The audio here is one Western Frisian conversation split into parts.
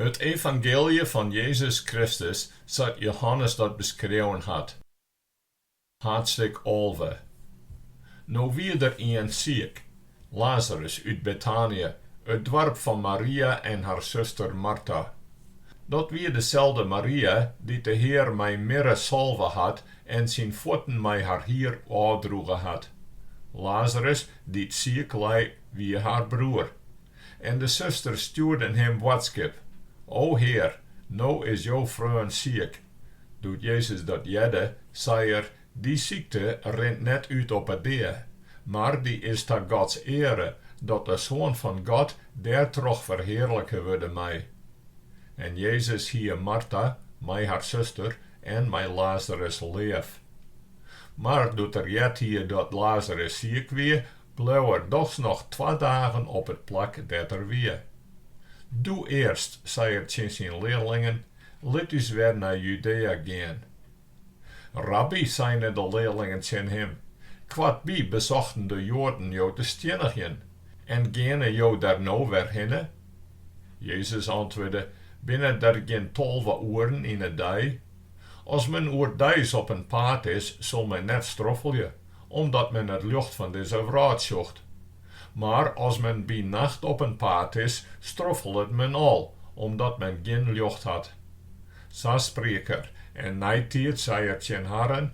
It evangeelje fan Jezus Kristus sa't Johannes dat beskreaun hat, hadstik alve. No wie der ien siik, Lazarus út Betanië, it doarp fan Maria en har suster Marta. Dat wie deselde Maria dy't de Hear mei mirre salve hat en syn fuotten mei har hier ôfdroege hat. Lazarus, dy't siik lei, wie har broer, En de susters stjoerden him boadskip, O Hear, no is jo freon siik. Doe't Jezus dat hearde, sei er, Dy sykte rint net út op 'e dea, mar dy is ta Gods eare, dat de Soan fan God dêrtroch ferhearlike wurde mei. En Jezus hie Marta mei har suster en mei Lazarus leaf. Mar doe't er heard hie dat Lazarus siik wie, Bleau er dochs noch twa dagen op it plak dêr't er wie. Doe earst, sei er tsjin syn learlingen, lit ús wer nei Judea gean. Rabby, seine de learlingen tsjin him, koartby besochten de Joaden jo te stjinnigjen, en geane jo der no wer hinne? Jezus antwurde, Binne der gjin tolve oeren yn 'e dei? As men oerdeis op in paad is, sil men net stroffelje, Omdat men it ljocht fan dizze wrâld sjocht. Mar as men by nacht op in paad is, stroffelet men al, omdat men gjin ljocht hat. Sa spriek er, en neitiid sei er tsjin harren,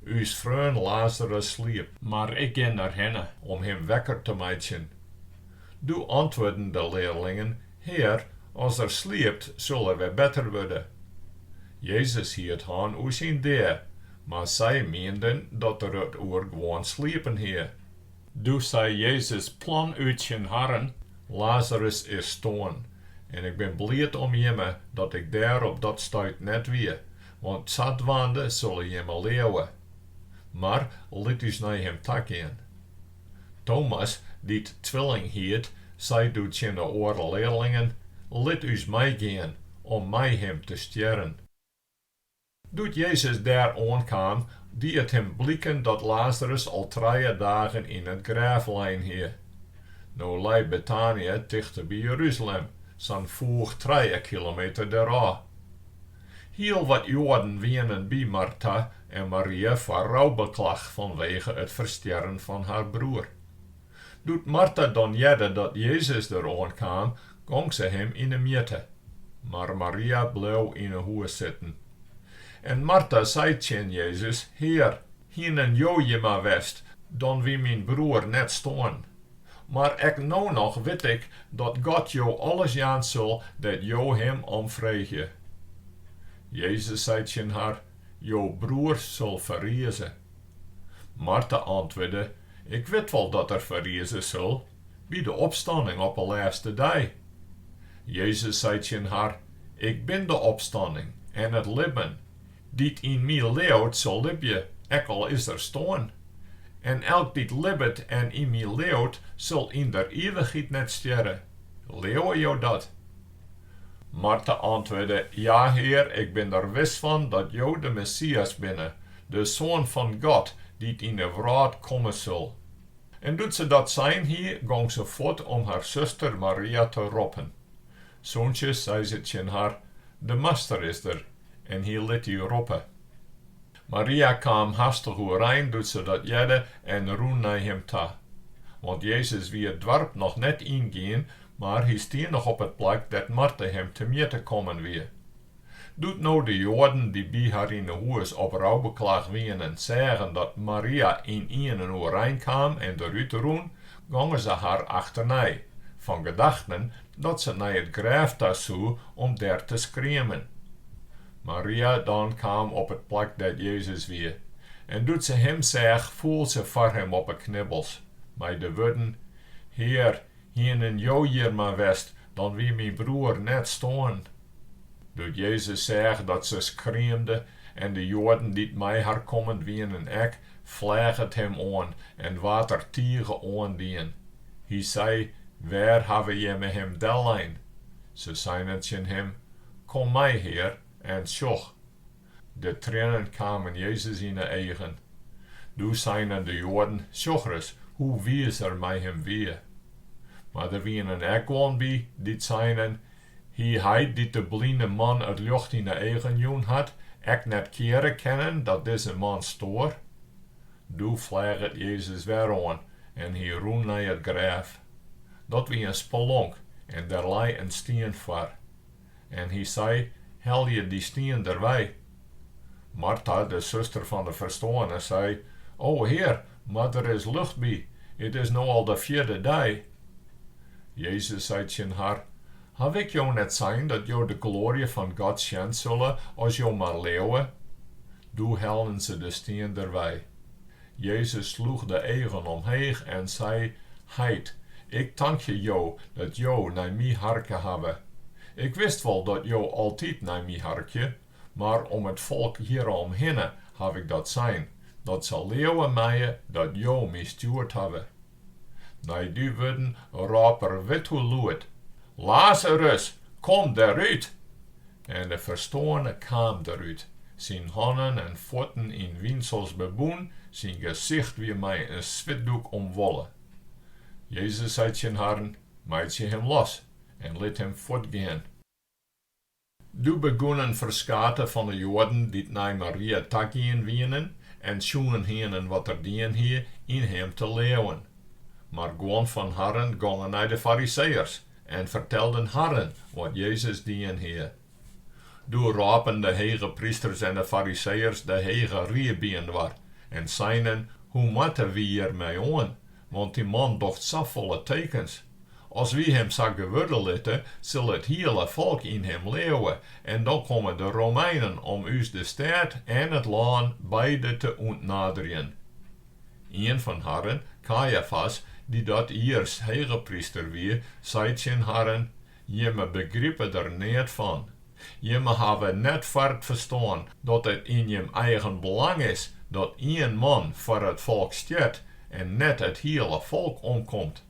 Us freon Lazarus sliept. Mar ik gean derhinne om him wekker te meitsjen. Doe antwurden de learlingen, Hear, as er sliept, sil er wer better wurde. Jezus hie it hân oer syn dea, Mar sy mienden dat er it oer gewoan sliepen hie. Doe sei Jezus plan út tsjin harren, Lazarus is stoarn, en ik bin bliid om jimme dat ik dêr op dat stuit net wie, want sadwaande sille jimme leauwe. Mar lit ús nei him ta gean. Tomas, dy't Twilling hiet, sei doe tsjin 'e oare learlingen, Lit ús meigean om mei him te stjerren. Doe't Jezus dêr oankaam, die it him bliken dat Lazarus al trije dagen yn it grêf lein hie. No lei Betanië tichteby Jerusalem, sa'n foech trije kilometer derôf. Hiel wat Joaden wienen by Marta en Maria foar roubeklach fanwege it ferstjerren fan har broer. Doe't Marta dan hearde dat Jezus der oan kaam, gong se him yn 'e mjitte. Mar Maria bleau yn 'e hûs sitten. En Marta sei tsjin Jezus, Hear, hienen Jo hjir mar west, dan wie myn broer net stoarn. Mar ek no noch wit ik dat God Jo alles jaan sil dêr't Jo Him om freegje. Jezus sei tsjin har, Jo broer sil ferrieze. Marta antwurde, Ik wit wol dat er ferrieze sil by de opstanning op 'e lêste dei. Jezus sei tsjin har, Ik bin de opstanning en it libben, dy't yn my leauwt sil libje, ek al is er stoarn. En elk dy't libbet en yn my leauwt sil yn der ivichheid net stjerre. Leauwe jo dat? Marta antwurde, Ja, Hear, ik bin der wis fan dat Jo de Messias binne, de Soan fan God, dy't yn 'e wrâld komme sil. En doe't se dat sein hie, gong se fuort om har suster Maria te roppen. Sûntsjes sei se tsjin har, De Master is der, en hy lit dy roppe. Maria kaam hastich oerein doe't se dat hearde en rûn nei him ta. Want Jezus wie it doarp noch net yngien, mar hy stie noch op it plak dêr't Marta him temjitte kommen wie. Doe't no de Joaden dy't by har yn 'e hûs op roubeklach wienen seagen dat Maria ynienen oerein kaam en derút rûn, gongen se har achternei, fan gedachten dat se nei it grêf ta soe om dêr te skriemen. Maria dan kaam op it plak dêr't Jezus wie, en doe't se Him seach, foel se foar Him op 'e knibbels, mei de wurden, Hear, hienen Jo hjir mar west, dan wie myn broer net stoarn. Doe't Jezus seach dat se skriemde, en de Joaden dy't mei har kommen wienen ek, fleach it Him oan en waard er tige oandien. Hy sei, Wêr hawwe jimme Him dellein? Se seinen tsjin Him, Kom mei, Hear, en sjoch! De trennen kamen Jezus yn 'e eagen. Doe seinen de Joaden, Sjoch ris, hoe wiis er mei him wie! Mar der wienen ek guon by, dy't seinen, Hie Hy, dy't de bline man it ljocht yn 'e eagen jûn hat, ek net keare kennen dat dizze man stoar? Doe fleach it Jezus wer oan en hy rûn nei it grêf. Dat wie in spelonk en der lei in stien foar. En hy sei, Helje dy stien derwei. Marta, de suster fan de ferstoarne, sei, O Hear, mar der is lucht by, it is no al de fjirde dei. Jezus sei tsjin har, Haw ik jo net sein dat jo de gloarje fan God sjen sille as jo mar leauwe? Doe hellen se de stien derwei. Jezus sloech de eagen omheech en sei, Heit, Ik tankje Jo dat Jo nei My harke hawwe. Ik wist wol dat Jo altyd nei My harkje, mar om it folk hjiroomhinne haw Ik dat sein, dat se leauwe meie dat Jo My stjoerd hawwe. Nei dy wurden rôp er wit hoe lûd, Lazarus, kom derút! En de ferstoarne kaam derút, syn hannen en fuotten yn winsels bebûn, syn gesicht wie mei in switdoek omwolle. Jezus sei tsjin harren, Meitsje him los en lit him fuortgean. Doe begûnen ferskate fan 'e Joaden dy't nei Maria tagien wienen en sjoen hienen wat er dien hie, yn him te leauwen. Mar guon fan harren gongen nei de Fariseeërs en fertelden harren wat Jezus dien hie. Doe rôpen de hegeprysters en de Fariseeërs de Hege Rie byinoar en seinen, Hoe moatte wy hjirmei oan? Want dy man docht safolle tekens. As wy him sa gewurde litte, sil it hiele folk yn him leauwe, en dan komme de Romeinen om ús de stêd en it lân beide te ûntnaderjen. Ien fan harren, Kajafas, dy't dat jiers hegepryster wie, sei tsjin harren, Jimme begripe der neat fan. Jimme hawwe net foar it ferstân dat it yn jim eigen belang is dat ien man foar it folk stjert en net it hiele folk omkomt.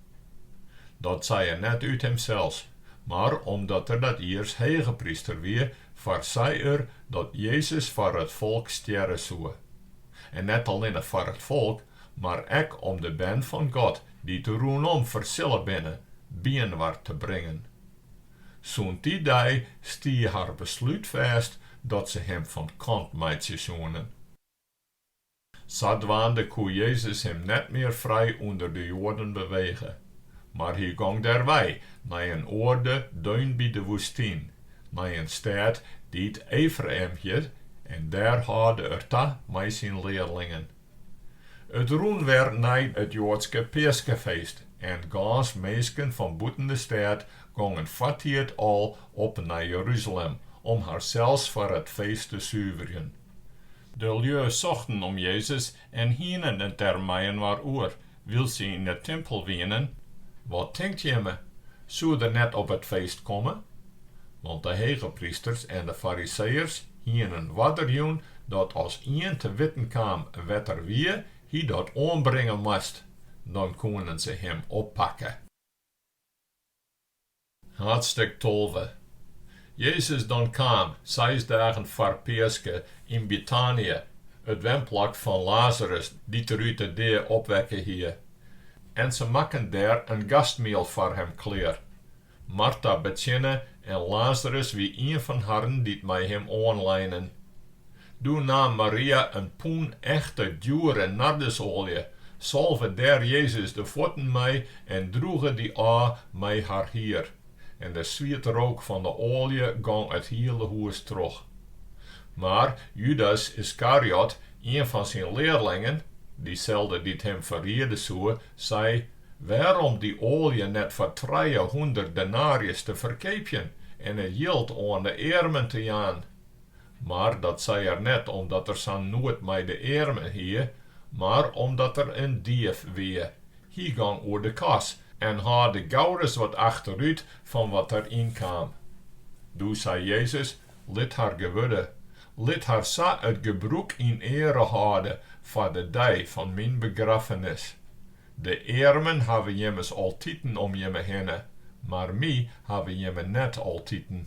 Dat sei er net út himsels, mar omdat er dat jiers hegepryster wie, foarsei er dat Jezus foar it folk stjerre soe. En net allinne foar it folk, mar ek om de bern fan God dy't rûnom fersille binne, byinoar te bringen. Sûnt dy dei stie har beslút fêst dat se him fan kant meitsje soene. Sadwaande koe Jezus him net mear frij ûnder de Joaden bewege, mar hy gong derwei nei in oarde deun by de woestyn, nei in stêd dy't Efraïm hjit, en dêr hâlde er ta mei syn learlingen. It rûn wer nei it Joadske peaskefeest en gâns minsken fan bûten de stêd gongen foartiid al op nei Jeruzalem om harsels foar it feest te suverjen. De lju sochten om Jezus en hienen it der meiinoar oer. Wylst se yn 'e timpel wienen, wat tinkt jimme, soe er net op it feest komme? Want de hegeprysters en de Fariseeërs hienen oarder jûn dat as ien te witten kaam wêr't er wie, hy dat oanbringe moast, dan koenen se him oppakke. Haadstik tolve. Jezus dan kaam, seis dagen foar Peaske, yn Betanië, it wenplak fan Lazarus, dy't er út 'e dea opwekke hie. En se makken dêr in gastmiel foar him klear. Marta betsjinne en Lazarus wie ien fan harren dy't mei him oanleinen. Doe naam Maria in pûn echte, djoere nardusoalje, salve dêr Jezus de fuotten mei en droege dy ôf mei har hier. En de swietrook fan de oalje gong it hiele hûs troch. Mar Judas Iskariot, ien fan syn learlingen, dyselde dy't him ferriede soe, sei, Wêrom dy oalje net foar trijehûndert denarjes te ferkeapjen en it jild oan de earmen te jaan? Mar dat sei er net omdat er sa'n noed mei de earmen hie, mar omdat er in dief wie. Hy gong oer de kas en hâlde gauris wat achterút fan wat der yn kaam. Doe sei Jezus, Lit har gewurde, lit har sa it gebrûk yn eare hâlde foar de dei fan myn begraffenis. De earmen hawwe jimme ommers altiten om jimme hinne, mar my hawwe jimme net altiten.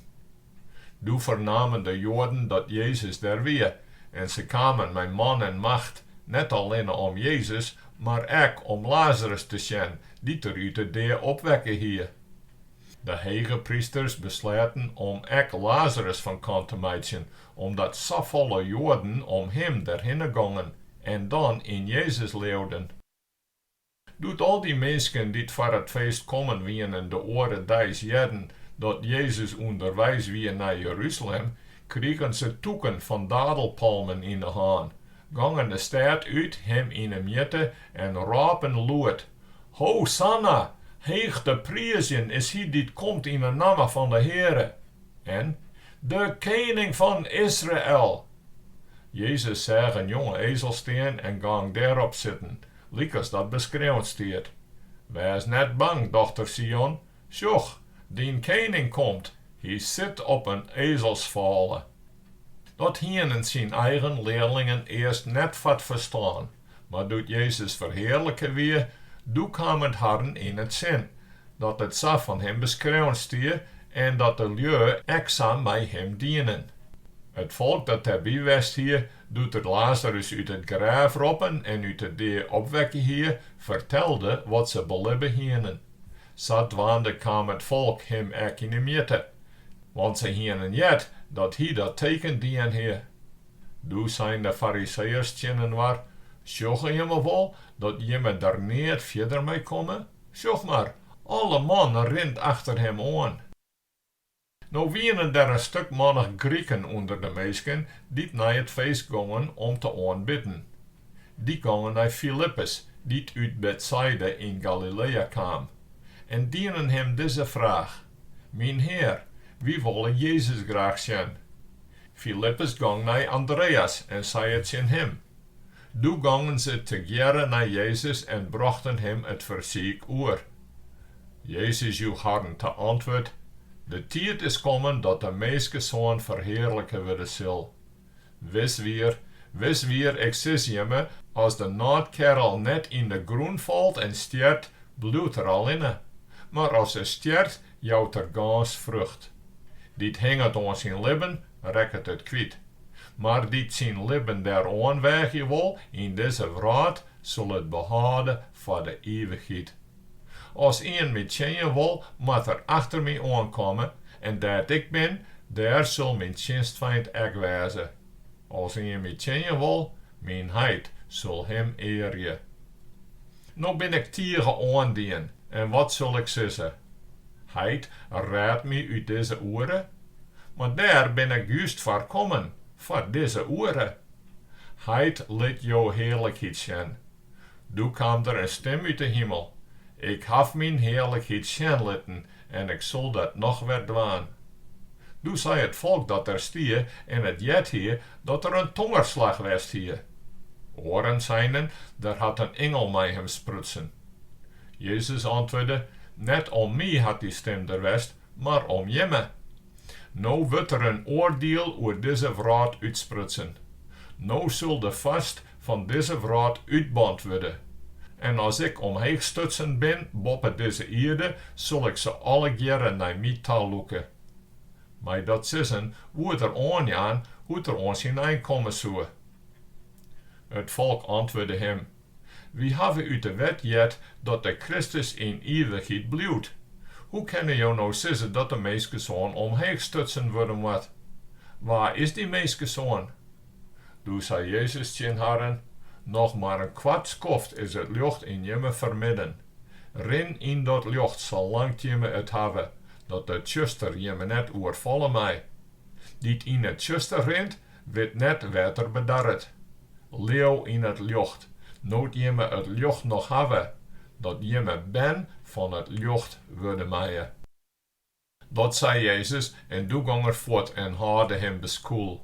Doe fernamen de Joaden dat Jezus der wie, en se kamen mei man en macht, net allinne om Jezus, mar ek om Lazarus te sjen, dy't er út 'e dea opwekke hie. De hegeprysters besleaten om ek Lazarus fan kant te meitsjen, omdat safolle Joaden om him derhinne gongen en dan yn Jezus leauden. Doe't al dy minsken dy't foar it feest kommen wienen de oare deis hearden dat Jezus ûnderweis wie nei Jeruzalem, krigen se tûken fan dadelpalmen yn de hân, gongen de stêd út, Him yn 'e mjitte en rôpen lûd, Hosanna! Heech te priizjen is Hy dy't komt yn 'e namme fan de Heare! en, De Kening fan Israel! Jezus seach in jonge ezel stean en gong dêrop sitten. lykas dat beskreaun stiet, Wês net bang, dochter Sion, sjoch, dyn kening komt, hy sit op in ezelsfôle. Dat hienen syn eigen learlingen earst net foar 't ferstân, mar doe't Jezus ferhearlike wie, doe kaam it harren yn 't sin, dat it sa fan him beskreaun stie en dat de lju ek sa mei him dienen. It folk dat dêrby west hie, Doe't er Lazarus út it grêf roppen en út 'e dea opwekke hie, fertelde wat se belibbe hienen. Sadwaande kaam it folk him ek yn 'e mjitte, want se hienen heard dat hy dat teken dien hie. Doe seinen de Fariseeërs tsjinoar, Sjogge jimme wol dat jimme der neat fierder mei komme? Sjoch mar, alle man rint achter him oan. No wienen der in stuk mannich Griken ûnder de minsken dy't nei it feest gongen om te oanbidden. Dy gongen nei Filippus, dy't út Betsaida yn Galilea kaam, en dienen him dizze fraach, Myn Hear, wy wolle Jezus graach sjen. Filippus gong nei Andreas en sei it tsjin him. Doe gongen se tegearre nei Jezus en brochten him it fersiik oer. Jezus joech harren ta antwurd, De tiid is kommen dat de Minskesoan ferhearlike wurde sil. Wis wier, wis wier, ik sis jimme, as de nôtkerrel net yn de grûn falt en stjert, bliuwt er allinne, mar as er stjert, jout er gâns frucht. Dy't hinget oan syn libben, rekket it kwyt, mar dy't syn libben dêroan weagje wol yn dizze wrâld, sil it behâlde foar de ivichheid. As ien my tsjinje wol, moat er achter my oan komme, en dêr't ik bin, dêr sil myn tsjinstfeint ek wêze. As ien my tsjinje wol, myn heit sil him earje. No bin ik tige oandien, en wat sil ik sizze? Heit, rêd my út dizze oere? Mar dêr bin ik just foar kommen, foar dizze oere. Heit, lit jo hearlikheid sjen. Doe kaam der in stim út 'e himel, Ik haw myn hearlikheid sjen litten en Ik sil dat noch wer dwaan. Doe sei it folk dat der stie en it heard hie, dat der in tongerslach west hie. Oaren seinen, Der hat in ingel mei him sprutsen. Jezus antwurde, Net om my hat dy stim der west, mar om jimme. No wurdt der in oardiel oer dizze wrâld útsprutsen. No sil de foarst fan dizze wrâld útband wurde. En as ik omheech stutsen bin boppe dizze ierde, sil ik se allegearre nei my ta lûke. Mei dat sizzen woe er oanjaan hoe't er oan syn ein komme soe. It folk antwurde him, Wy hawwe út de Wet heard dat de Kristus yn ivichheid bliuwt. Hoe kinne jo no sizze dat de Minskesoan omheech stutsen wurde moat? Wa is dy Minskesoan? Doe sei Jezus tsjin harren, Noch mar in koart skoft is it ljocht yn jimme fermidden. Rin yn dat ljocht salang't jimme it hawwe, dat de tsjuster jimme net oerfalle mei. Dy't yn it tsjuster rint, Wit net wêr't er bedarret. Leau yn it ljocht, no't jimme it ljocht noch hawwe, dat jimme bern fan it ljocht wurde meie. Dat sei Jezus en doe gong er fuort en hâlde him beskûl.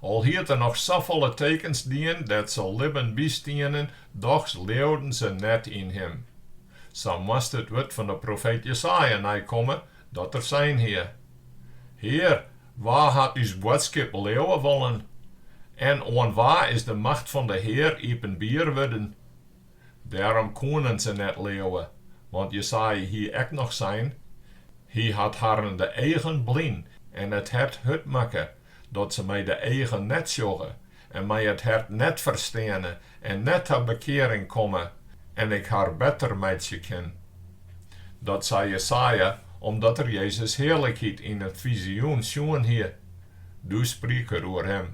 Al hied er noch safolle tekens dien dêr't se libben by stienen, dochs leauden se net yn him. Sa moast it wurd fan de profeet Jesaja neikomme, dat er sein hie, Hear, Wa hat ús boadskip leauwe wollen en oan wa is de macht fan de Hear iepenbier wurden? Dêrom koenen se net leauwe, want Jesaja hie ek noch sein, Hy hat harren de eagen blyn en it hert hurd makke, dat se mei de eagen net sjogge en mei it hert net fersteane en net ta bekearing komme, en ik har better meitsje kin. Dat sei Jesaja omdat er Jezus' hearlikheid yn it fizioen sjoen hie. Doe spriek er oer him.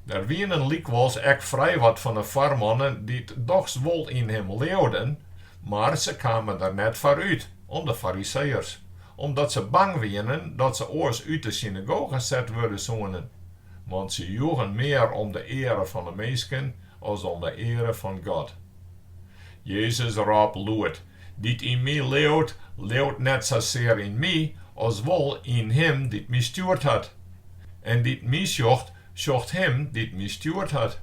Der wienen lykwols ek frij wat fan 'e foarmannen dy't dochs wol yn him leauden, mar se kamen der net foar út om de Fariseeërs, omdat se bang wienen dat se oars út 'e synagoge set wurde soenen. Want se joegen mear om de eare fan de minsken as om de eare fan God. Jezus rôp lûd, Dy't yn my leaut, leaut net sasear yn my, as wol yn Him dy't my stjoerd hat. En dy't my sjocht, sjocht Him dy't my stjoerd hat.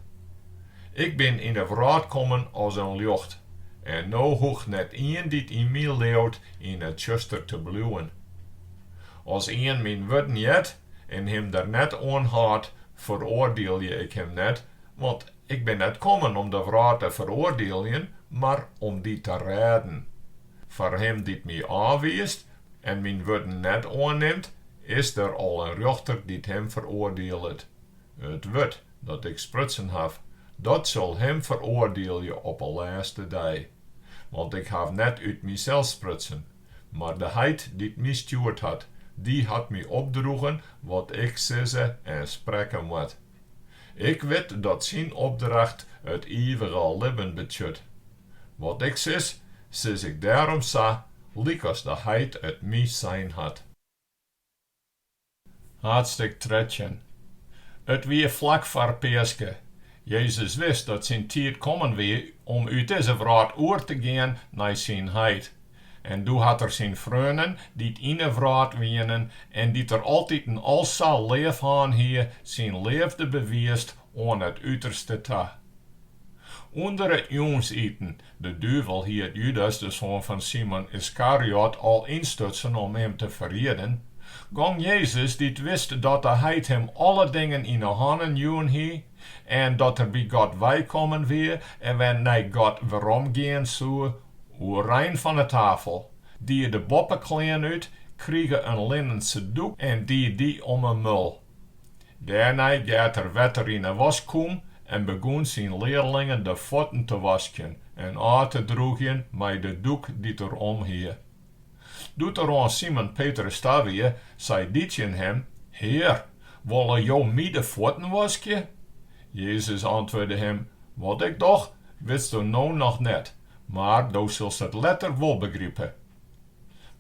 Ik bin yn de wrâld kommen as in ljocht, en no hoecht net ien dy't yn my leaut yn it tsjuster te bliuwen. As ien myn wurden heart, en him der net oan hâldt, feroardielje ik him net, want ik bin net kommen om de wrâld te feroardieljen, mar om dy te rêden. Foar him dy't my ôfwiist en myn wurden net oannimt, is der al in rjochter dy't him feroardielet. It wurd dat ik sprutsen haw, dat sil him feroardielje op 'e lêste dei. Want ik haw net út mysels sprutsen, Mar de heit dy't my stjoerd hat, dy hat my opdroegen wat ik sizze en sprekke moat. Ik wit dat syn opdracht it ivige libben betsjut. Wat ik sis, sis ik dêrom sa, lykas de heit it my sein hat. Haadstik trettjin. It wie flak foar Peaske. Jezus wist dat syn tiid kommen wie om út dizze wrâld oer te gean nei syn Heit. En doe hat er syn freonen, dy't yn 'e wrâld wienen en dy't er altiten al sa leaf hân hie, syn leafde bewiisd oan it uterste ta. Under it jûnsiten De duvel hie Judas, de soan fan Simon Yskariot, al ynstutsen om him te ferrieden. Gong Jezus, dy't wist dat de Heit him alle dingen yn 'e hannen jûn hie en dat er by God weikommen wie en wer nei God weromgean soe, oerein fan 'e tafel, die de boppeklean út, krige in linnense doek en die dy om 'e mul. Dêrnei geat er wetter yn 'e waskûm en begûn syn learlingen de fuotten te waskjen en ôf te drûgjen mei de doek dy't er om hie. Doe't er oan Simon Petrus ta wie, sei dy tsjin him, Hear, wolle jo my de fuotten waskje? Jezus antwurde him, Wat ik doch, witsto no noch net, mar do silst it letter wol begripe.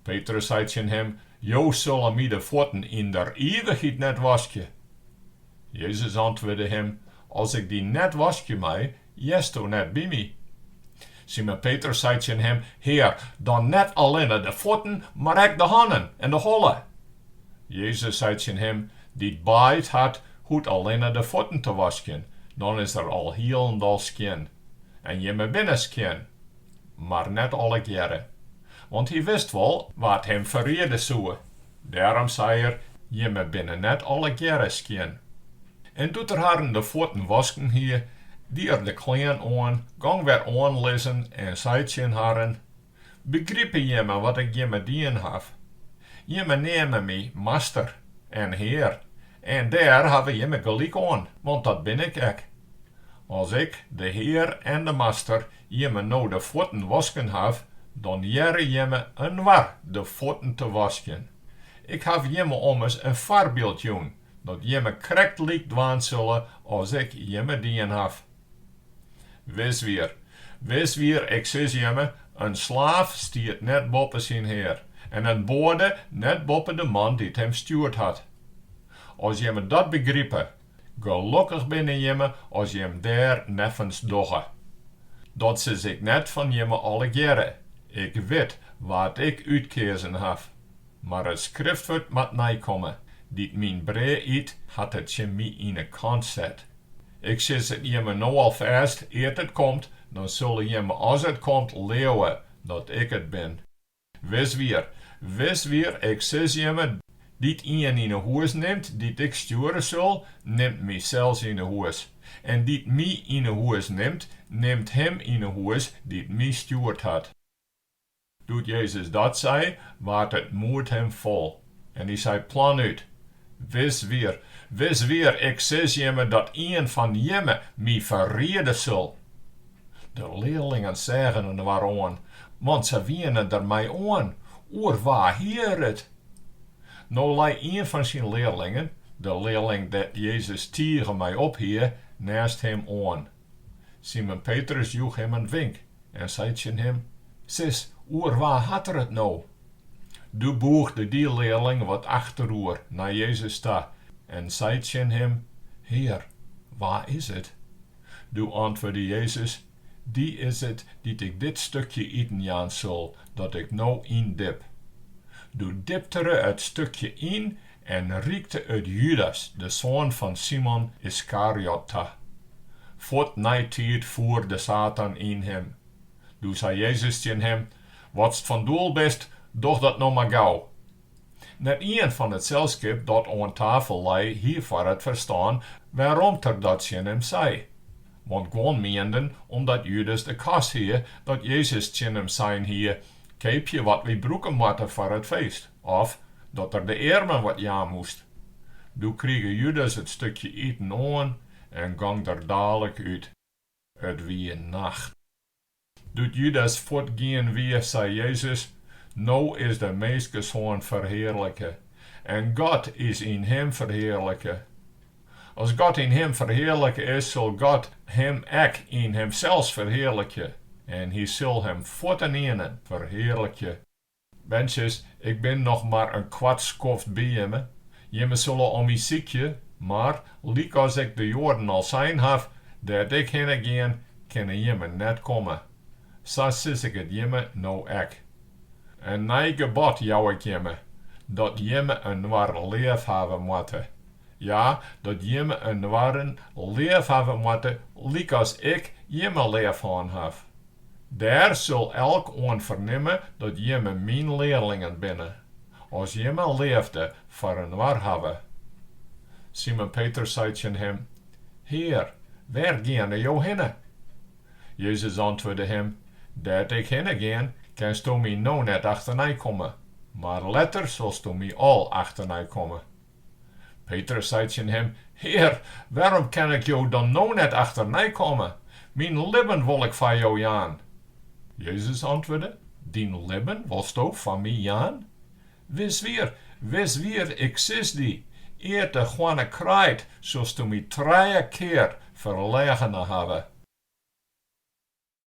Petrus sei tsjin him, Jo sille my de fuotten yn der ivichheid net waskje. Jezus antwurde him, As ik dy net waskje mei, hearsto net by my. Simon Petrus sei tsjin him, Hear, dan net allinne de fuotten, mar ek de hannen en de holle? Jezus sei tsjin him, Dy't baaid hat, hoecht allinne de fuotten te waskjen, dan is er alhielendal skjin. En jimme binne skjin. mar net allegearre, want hy wist wol wa't him ferriede soe. Dêrom sei er, Jimme binne net allegearre skjin. En doe't er harren de fuotten wasken hie, die er de klean oan, gong wer oan lizzen en sei tsjin harren, Begripe jimme wat ik jimme dien haw? Jimme neame my Master en Hear, en dêr hawwe jimme gelyk oan, want dat bin ik ek. As ik, de Hear en de Master, jimme no de fuotten wasken haw, dan hearre jimme inoar de fuotten te waskjen. Ik haw jimme ommers in foarbyld jûn, dat jimme krekt lyk dwaan sille as Ik jimme dien haw. Wis wier, wis wier, Ik sis jimme, in slaaf stiet net boppe syn hear, en in boade net boppe de man dy't him stjoerd hat. As jimme dat begripe, Gelokkich binne jimme as jim dêr neffens dogge. Dat sis ik net fan jimme allegearre, ik wit wa't ik útkeazen haw. Mar it Skriftwurd moat neikomme, dy't myn brea yt, hat it tsjin my yn 'e kant set. Ik sis it jimme no al fêst, ear't it komt, dan sille jimme as it komt leauwe dat ik it bin. Wis wier, wis wier, ik sis jimme, dy't ien yn 'e hûs nimt, dy't ik stjoere sil, nimt mysels yn 'e hûs. En dy't my yn 'e hûs nimt, nimt him yn 'e hûs dy't my stjoerd hat. Doe't Jezus dat sei, waard it moed him fol. En dy sei planút, Wis wier, wis wier, ik sis jimme dat ien fan jimme my ferriede sil. De learlingen seagen inoar oan, want se wiene der mei oan, oer wa hie er it? No lei ien fan syn learlingen, de learling dêr't Jezus tige mei ophie, neast him oan. Simon Petrus joech him in wink en sei tsjin him, Sis, oer wa hat er it no? Doe bûgde dy learling wat achteroer nei Jezus ta en sei tsjin him, Hear, wa is it? Doe antwurde Jezus, Dy is it dy't ik dit stukje iten jaan sil, dat ik no yndip. Doe diptere it stukje yn En rykte it Judas, de soan fan Simon Iskariot, ta. Fuort neitiid foer de Satan yn him. Doe sei Jezus tsjin him, Watst fan doel bist, doch dat no mar gau. Net ien fan it selskip dat oan tafel lei hie foar it ferstân wêrom't er dat tsjin him sei, want guon mienden omdat Judas de kas hie dat Jezus tsjin him sein hie, Keapje wat wy brûke moatte foar it feest. Of dat er de earmen wat jaan moast. Doe krige Judas it stukje iten oan en gong der dalik út. It wie nacht. Doe't Judas fuortgien wie, sei Jezus, No is de Minskesoan ferhearlike, en God is yn him ferhearlike. As God yn him ferhearlike is, sil God him ek yn himsels ferhearlikje en hy sil him fuorteniene ferhearlikje. Berntsjes, Ik bin noch mar in koart skoft by jimme. Jimme solle om my sykje, mar, lykas ik de Joaden al sein haw, dêr't ik hinne gean, kinne jimme net komme. Sa sis ik it jimme no ek. In nij gebod jou ik jimme, dat jimme inoar leaf hawwe moatte. Ja, dat jimme inoaren leaf hawwe moatte lykas ik jimme leaf hân haw. Dêr sil elk oan fernimme dat jimme myn learlingen binne, as jimme leafde foar inoar hawwe. Simon Petrus sei tsjin Him, Hear, wêr geane Jo hinne? Jezus antwurde him, Dêr't Ik hinne gean, kinsto My no net achternei komme, mar letter silsto My al achternei komme. Petrus sei tsjin him, Hear, wêrom kin ik jo dan no net achternei komme? Myn libben wol ik foar jo jaan. Jezus antwurde, Dyn libben wolsto foar my jaan? Wis wier, wis wier, ik sis dy, ear't de hoanne kraait, silsto my trije kear ferlegene hawwe.